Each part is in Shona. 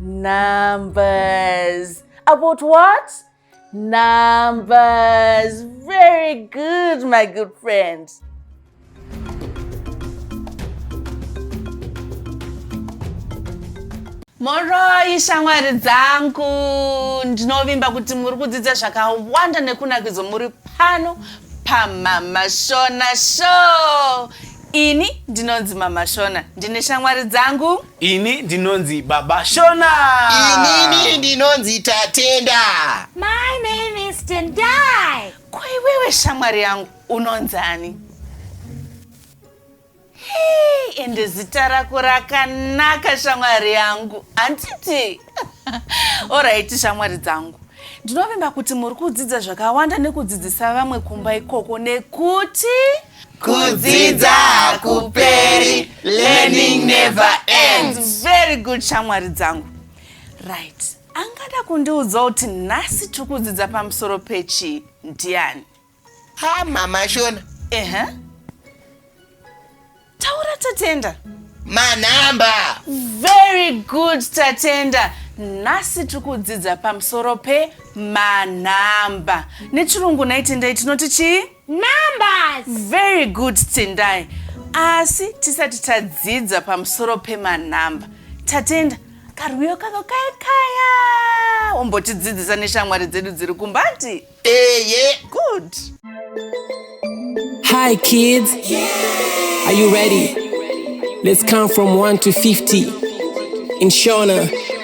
Numbers. About what? Numbers. Very good, my good friend. moroi shamwari dzangu ndinovimba kuti muri kudzidza zvakawanda nekunakidzo muri pano pamamashona show ini ndinonzi mamashona ndine shamwari dzangu Ini ndinonzi Baba Shona. Inini ndinonzi Tatenda. My name is Tendai. Ko iwewe shamwari yangu unonzani? Hey, ende zita rako rakanaka shamwari yangu handiti? Oraiti shamwari dzangu ndinovimba kuti muri kudzidza zvakawanda nekudzidzisa vamwe kumba ikoko nekuti kudzidza hakuperi learning never ends very good shamwari dzangu right angada kundiudza kuti nhasi tiri kudzidza pamusoro pechii ndiani ha mama shona ehe uh -huh. taura tatenda manhamba very good tatenda nhasi tiri kudzidza pamusoro pemanhamba nechirungu naitendai tinoti chii Numbers. Very good Tendai. Asi tisati tadzidza pamusoro pemanhamba. Tatenda, karwiyo kako kaya kaya. Wombotidzidzisa neshamwari dzedu dziri kumbati. Eye. Good. Hi kids. Are you ready? Let's count from 1 to 50. In Shona.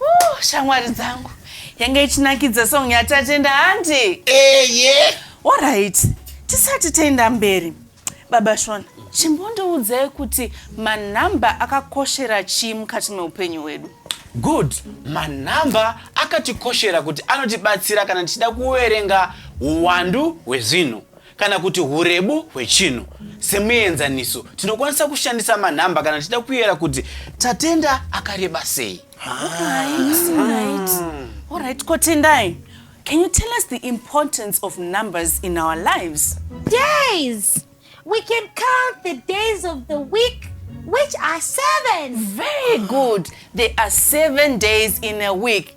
Ooh, shamwari dzangu yange ichinakidza song yatatenda handi eye orit tisati taenda mberi baba shona chimbondiudzai kuti manhamba akakoshera chii mukati meupenyu hwedu good manhamba akatikoshera kuti anotibatsira kana tichida kuverenga uwandu hwezvinhu kana kuti hurebu hwechinhu. Semuenzaniso, tinokwanisa kushandisa manhamba kana tichida kuyera kuti Tatenda akareba sei. Alright, Kotendai, can you tell us the importance of numbers in our lives? Days! We can count the days of the week, which are seven. Very good. There are seven days in a week.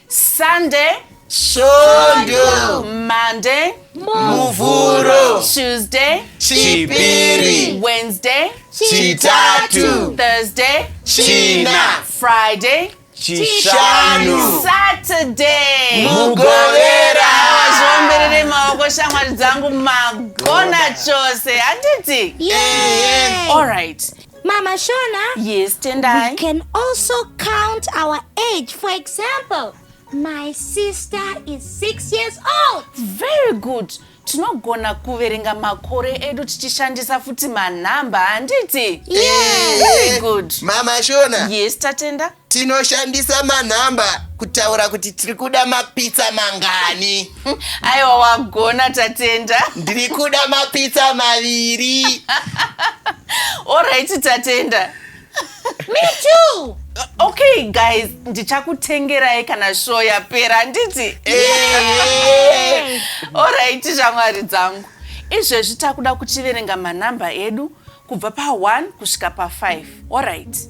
Sunday. Shondo. Monday. Muvhuro. Tuesday. Chipiri. Wednesday. Chitatu. Thursday. China. Friday. Chishanu. Saturday. Mugovera. Zvomberere maoko shamwari dzangu magona chose handiti? Yeah. All right. Mama Shona. Yes, Tendai. We can also count our age. For example, my sister is six years old. Very good. tinogona kuverenga makore edu tichishandisa futi manhamba handiti yes. Very good. mama shona yes tatenda Tinoshandisa manhamba kutaura kuti tiri kuda mapitsa mangani. Aiwa wagona Tatenda. Ndiri kuda mapitsa maviri. Alright Tatenda. Me too. Okay guys, ndichakutengerai kana show yapera handiti? Eh. Alright shamwari dzangu. Izvezvi takuda kuchiverenga manhamba edu kubva pa 1 kusvika pa 5. Alright.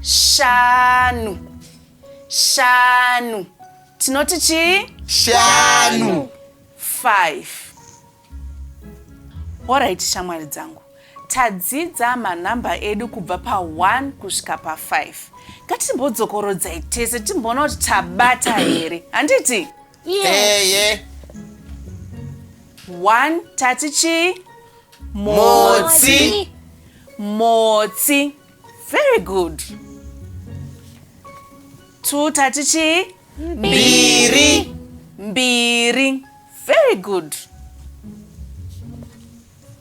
shanu shanu tinoti chii shanu five orit shamwari dzangu tadzidza manhamba edu kubva pa1 kusvika pa5 ngatimbodzokorodzai tese timboona kuti tabata here handiti eye 1 tati chii motsi motsi Very good. Two tati chii? Mbiri. Mbiri. Very good.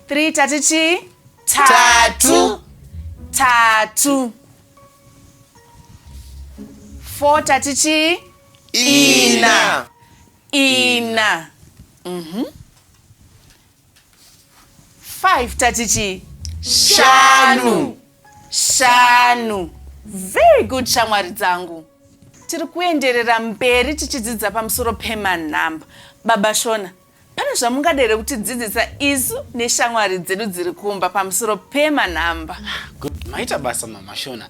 Three tati chii? Tatu. Tatu. Four tati chii? Ina. Ina. Mhm. Mm 5 tati chii shanu shanu very good shamwari dzangu tiri kuenderera mberi tichidzidza pamusoro pemanhamba baba shona pane zvamungadere kutidzidzisa isu neshamwari dzedu dziri kumba pamusoro pemanhamba good maita basa mama shona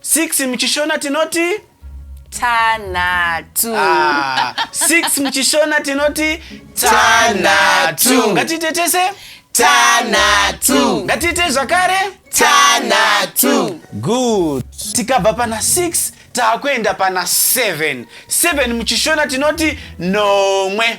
Six muchishona tinoti tanhatu ah, six muchishona tinoti tanhatu ngatiite tese tanhatu ngatiite zvakare tanhatu good tikabva pana six taakuenda pana seven seven muchishona tinoti nomwe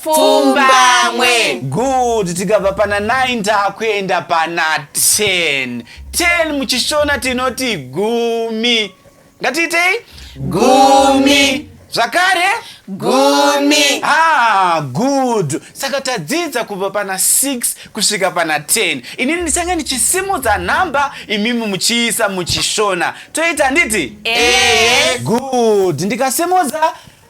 pfumbamwe good tikabva pana 9 takuenda pana 10 10 muchishona tinoti gumi ngatiitei gumi zvakare gumi ah good saka tadzidza kubva pana 6 kusvika pana 10 inini ndichange ndichisimudza nhamba imimi muchiisa muchishona toita handiti Ehe. good ndikasimudza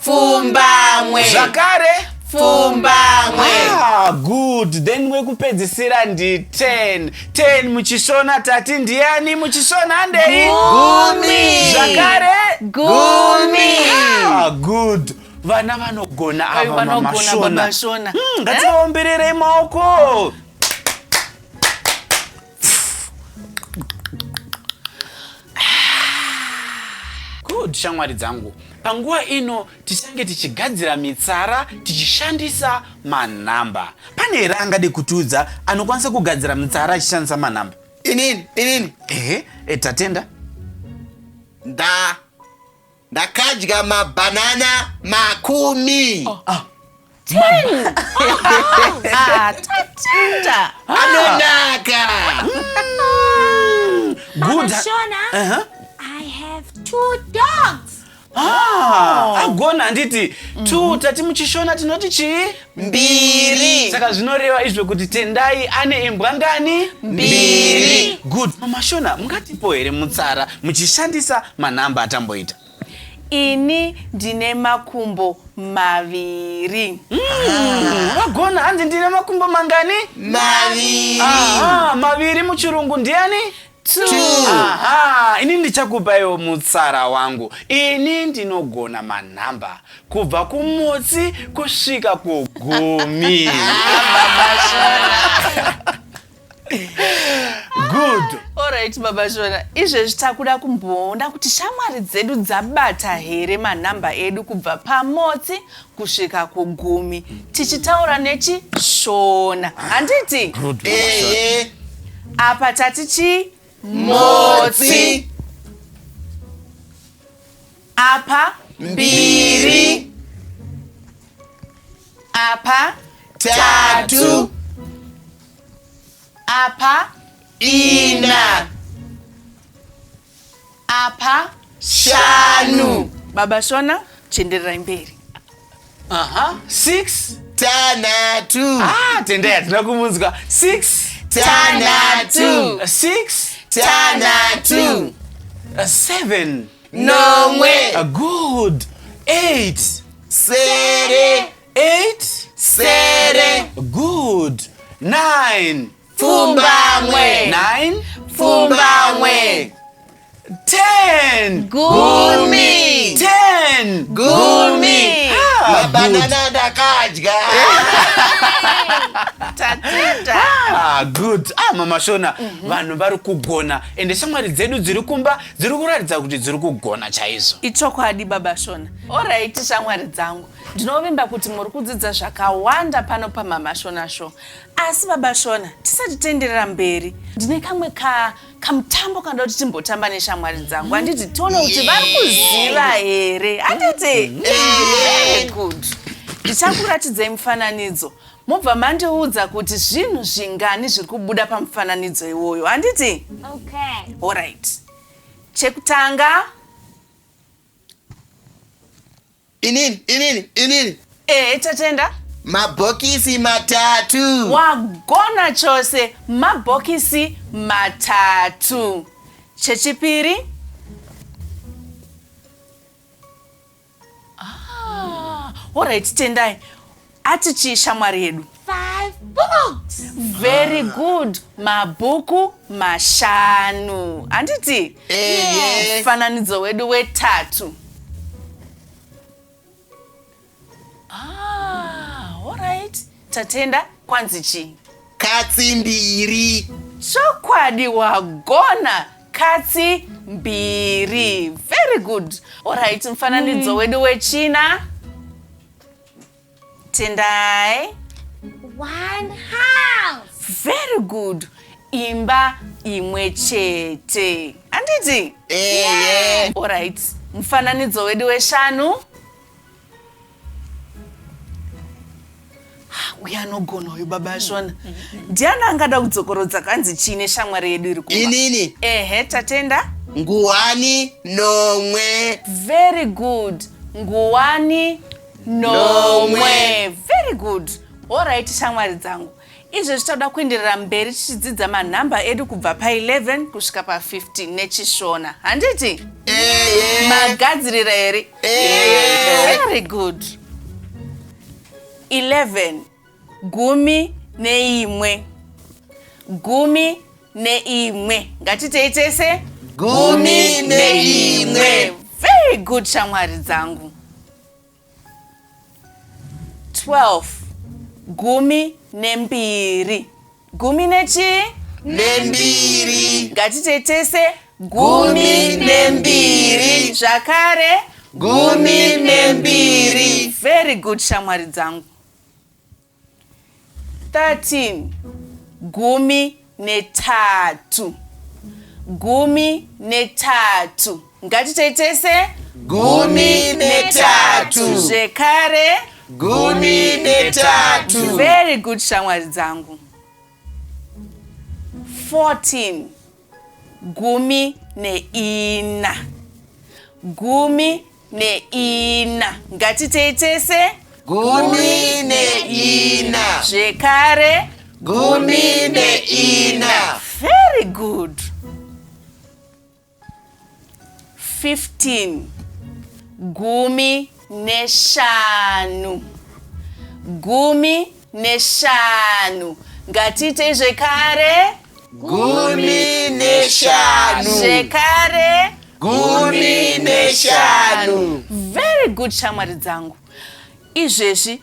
pfumbamwe zvakare pfumbamwe ah, good then wekupedzisira ndi 10 10 muchishona tati ndiyani muchishona handei gumi zvakare gumi ah, good vana vanogona ava mamashona hmm, ngativaombererei maoko Good shamwari dzangu, panguva ino tichange tichigadzira mitsara tichishandisa manhamba. Pane here angade kutiudza anokwanisa kugadzira mitsara achishandisa manhamba? Inini, inini. Ehe, e, Tatenda. Nda. ndakadya mabhanana makumi ah. Ah, tatenda anonaka mm. Shona, uh -huh. I have two dogs. Ah, oh. agona handiti two mm-hmm. tati muchishona tinoti chii mbiri saka zvinoreva izvo kuti tendai ane imbwa ngani mbiri good mamashona mungatipo here mutsara muchishandisa manhamba atamboita ini ndine makumbo maviri hmm, vagona hanzi ndine makumbo mangani maviri maviri muchirungu ndiani aha ini ndichakupaiwo mutsara wangu ini ndinogona manhamba kubva kumutsi kusvika kugumi good orit baba shona izvezvi takuda kumboona kuti shamwari dzedu dzabata here manhamba edu kubva pamotsi kusvika kugumi tichitaura nechishona handiti ehe apa tati chii motsi apa mbiri apa tatu apa ina apa shanu baba shona chendererai mberi aha six tanhatu ah tendai hatina kumunzwa six tanhatu six tanhatu seven nomwe a good eight sere eight sere good nine Pfumbamwe. Nine. Pfumbamwe. Ten. Gumi. Ten. Gumi. Ah, Mabanana ndakadya. Tatenda. Ah, good ah mama shona vanhu vari kugona ende shamwari dzedu dziri kumba dziri kuratidza kuti dziri kugona chaizvo ichokwadi baba shona orit shamwari dzangu ndinovimba kuti muri kudzidza zvakawanda pano pamama shona show Asi baba Shona, tisati tenderera mberi, ndine kamwe ka kamutambo kanoda kuti timbotamba neshamwari dzangu. Handiti tione kuti vari kuziva here? Handiti? Very good. Ndichakuratidzai mufananidzo mobva mandiudza kuti zvinhu zvingani zviri kubuda pamufananidzo iwoyo. Handiti? Okay. All right. Chekutanga inini inini inini ehe tatenda mabhokisi matatu wagona chose mabhokisi matatu chechipiri ah, orit tendai Ati chii shamwari yedu? Five books. Very good. Mabhuku mashanu. Handiti? Ehe. Mufananidzo wedu wetatu. Ah, all right. Tatenda kwanzi chii? Katsi mbiri. Chokwadi wagona katsi mbiri. Very good. All right, mufananidzo wedu wechina. Tendai. One house. Very good. Imba imwe chete. Anditi? Eh, yeah. All right. Mfananidzo wedu weshanu. Ah, uya anogona uyu baba ashona mm, mm, mm. ndiani angada kudzokorodza kanzi chii neshamwari yedu iri kuma inini ehe tatenda nguwani nomwe very good nguwani nomwe very good orit shamwari dzangu izvo zvichada kuenderera mberi tichidzidza manhamba edu kubva pa11 kusvika pa15 nechishona handiti magadzirira here very good 11 gumi neimwe gumi neimwe ngatitei tese gumi neimwe very good shamwari dzangu 12 gumi nembiri gumi nechii nembiri ngatitei tese gumi nembiri zvakare gumi nembiri very good shamwari dzangu 13 gumi netatu gumi netatu ngatitei tese gumi netatu zvekare gumi netatu very good shamwari dzangu 14 gumi neina gumi neina ngatitei tese gumi neina zvekare gumi neina very good 15 gumi neshanu gumi neshanu ngatiitei zvekare gumi neshanu zvekare gumi neshanu very good shamwari dzangu izvezvi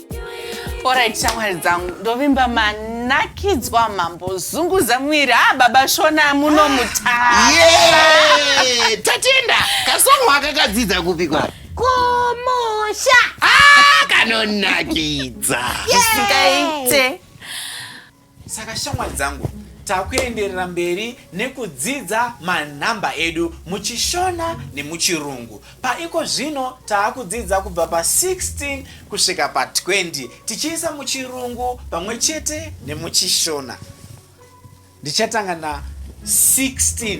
Alright, shamwari dzangu ndovimba manakidzwa mambo zunguza mwiri ha ah, baba shona muno mutara yeah! tatenda kasongo akakadzidza kupi kwa kumusha ah, kanonakidza zvisingaite yeah. saka shamwari dzangu takuenderera mberi nekudzidza manhamba edu muchishona nemuchirungu paiko zvino taakudzidza kubva pa 16 kusvika pa 20 tichiisa muchirungu pamwe chete nemuchishona ndichatanga na 16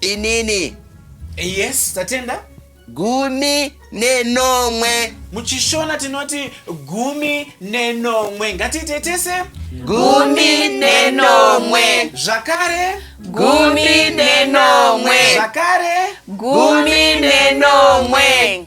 Inini. Eh, yes, tatenda. Gumi nenomwe. Muchishona tinoti gumi nenomwe. Ngatiite tese. Gumi nenomwe. Zvakare. Gumi nenomwe. Zvakare. Gumi nenomwe.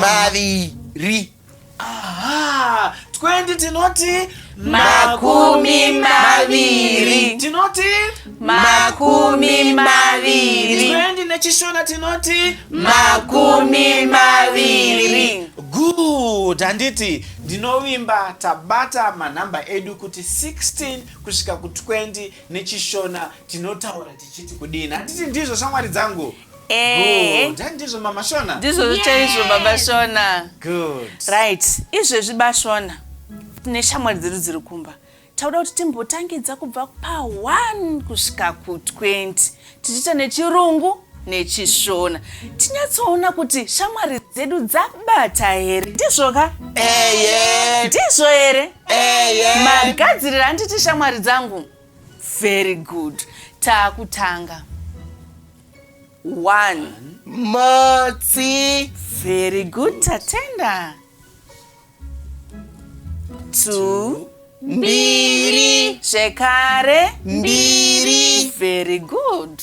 maviri Aha, 20 tinoti Makumi maviri. tinoti Makumi maviri. 20 nechishona tinoti Makumi maviri. good handiti ndinovimba tabata manhamba edu kuti 16 kusvika ku20 nechishona tinotaura tichiti kudini handiti ndizvo shamwari dzangu Eh. Good. Ndizvo mama Shona. Ndizvo chaizvo baba Shona. Good. Right. Izvezvi bashona tine shamwari dzedu dziri kumba. Tauda kuti timbotangidza kubva pa 1 kusvika ku 20 tichiita nechirungu nechishona tinyatsoona kuti shamwari dzedu dzabata here ndizvo ka ndizvo here magadzirira handiti shamwari dzangu very good taakutanga one matsi very good tatenda two mbiri zvekare mbiri very good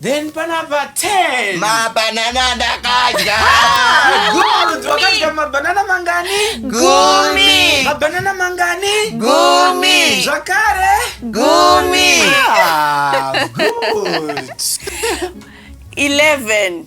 Then panapa 10. Mabanana ndakadya. Good. Wakadya mabanana mangani? Gumi. Mabanana mangani? Gumi. Zvakare? Gumi. Ah, good. 11.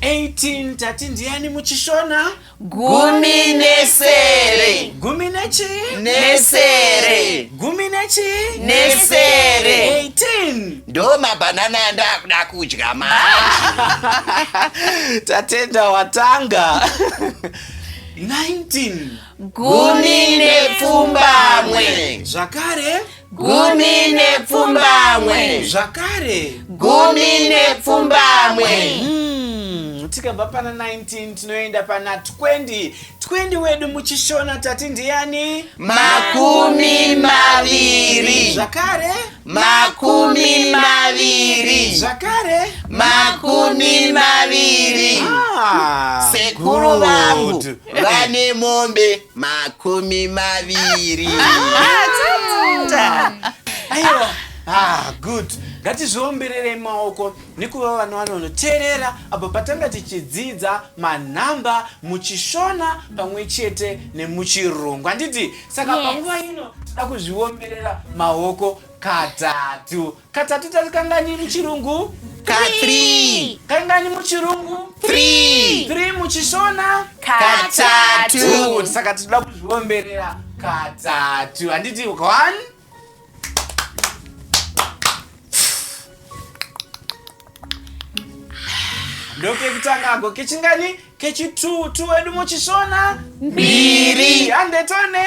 18 tati ndiyani muchishona gumi nesere gumi nechi nesere gumi nechi nesere 18 ndo mabhanana andakuda kudya manje tatenda watanga 19 gumi nepfumbamwe zvakare gumi nepfumbamwe zvakare gumi nepfumbamwe hmm, tikabva pana 19 tinoenda pana 20 20 wedu muchishona tati ndiyani makumi maviri zvakare makumi maviri zvakare makumi maviri ah, sekuru vangu vane mombe makumi maviri aiwa ah, good ngatizviombererei maoko nekuva vana vanonoteerera apo patanga tichidzidza manhamba muchishona pamwe chete nemuchirungu handiti saka Yes. panguva ino tinoda kuzviomberera maoko katatu Katatu tati kanganyi muchirungu? Ka three. Kanganyi muchirungu? Three. Three muchishona? Katatu. Saka tinoda kuzviomberera katatu. Handiti one? ndokekutanga ako kechingani kechitu tu wedu muchishona mbiri handetone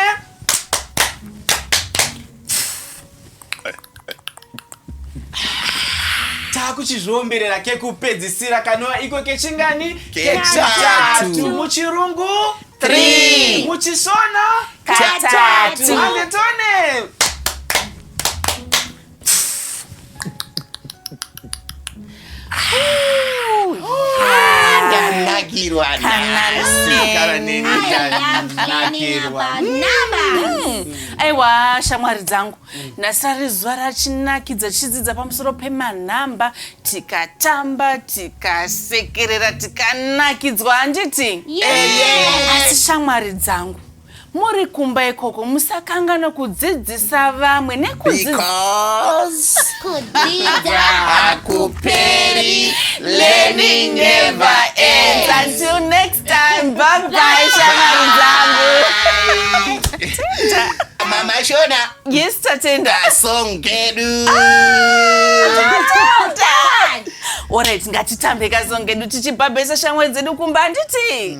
takuchizviomberera kekupedzisira kanova iko kechingani kechitatu muchirungu muchisona katatu andetone Ndanakirwa nhasi gara neni ndanakirwa. aiwa shamwari dzangu nhasi rari zuva rachinakidza tichidzidza pamusoro pemanhamba tikatamba tikasekerera tikanakidzwa handiti asi shamwari dzangu Muri kumba ikoko musakanganwe kudzidzisa vamwe nekudzidzisa Kudzidza hakuperi, learning never ends. Until next time, bye bye shamwari dzangu. Mama Shona, Yes tatenda. song kedu. Alright, ngatitambe kazongedu tichibhabhesa shamwari dzedu kumba handiti?